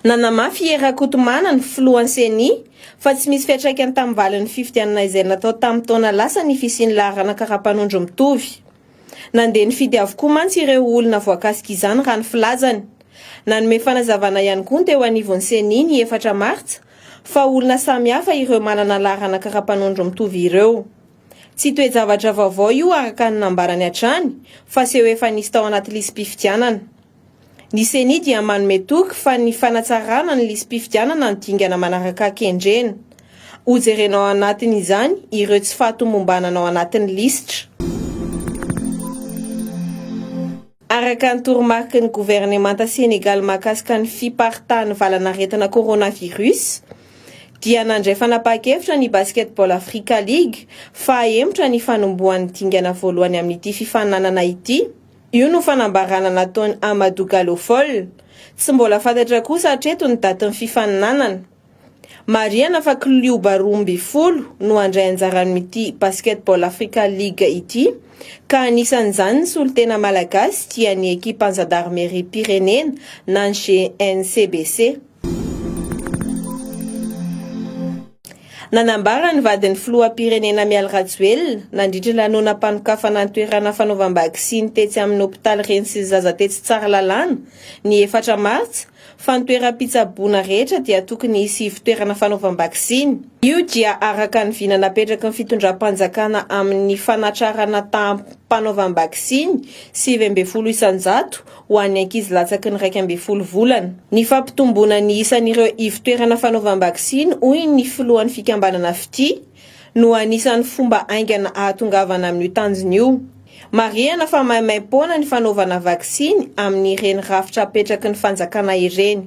Nanamafy i Hery Rakotomana, ny filohan'ny Ceni, fa tsy misy fiantraikany tamin'ny valin'ny fifidianana izay natao tamin'ny taona lasa ny fisian'ny laharana karapanondro mitovy. Nandeha nifidy avokoa mantsy ireo olona voakasika izany raha ny filazany. Nanome fanazavana ihany koa ny teo anivon'ny Ceni ny efatra martsa fa olona samihafa ireo manana laharana karapanondro mitovy ireo. Tsy toe-javatra vaovao io araka ny nambarany hatrany fa seho efa nisy tao anaty lisi-pifidianana. Ny Ceni dia manome toky fa ny fanatsarana ny lisi-pifidianana no dingana manaraka kendrena. Hojerena ao anatin'izany ireo tsy fahatomombanana ao anatin'ny lisitra. Araka ny toromariky ny governemanta Senegaly mahakasika ny fiparitahan'ny valanaretina coronavirus, dia nandray fanapahan-kevitra ny Basketball Africa League fa hahemotra ny fanombohan'ny dingana voalohany amin'ity fifaninanana ity. Io no fanambarana nataon'i Amadou Gallo Fall. Tsy mbola fantatra kosa hatreto ny datin'ny fifaninanana. Marihana fa klioba roa ambin'ny folo no handray anjara amin'ity Basketball Africa League ity ka anisan'izany ny solontena malagasy dia ny ekipan-jandarimeriam-pirenena na ny GNCBC. Nanambara ny vadin'ny filoham-pirenena Mialy Rajoelina nandritra ny lanonam-panokafana an-toerana fanaovam-baksiny tetsy amin'ny hopitaly Reny sy ny zaza tetsy Tsaralalàna ny efatra martsa fa ny toeram-pitsaboana rehetra dia tokony hisy ivon-toerana fanaovam-baksiny. Io dia araka ny vina napetraky ny fitondram-panjakana amin'ny fanatrarana taham-panaovam-baksiny sivy ambin'ny folo isan-jato ho an'ny ankizy latsaky ny iraika ambin'ny folo volana. Ny fampitomboana ny isan'ireo ivon-toerana fanaovam-baksiny, hoy ny filohan'ny fikambanana Fitia, no anisan'ny fomba haingana ahatongavana amin'io tanjona io. Marihana fa maimaim-poana ny fanaovana vaksiny amin'ireny rafitra apetraky ny fanjakana ireny.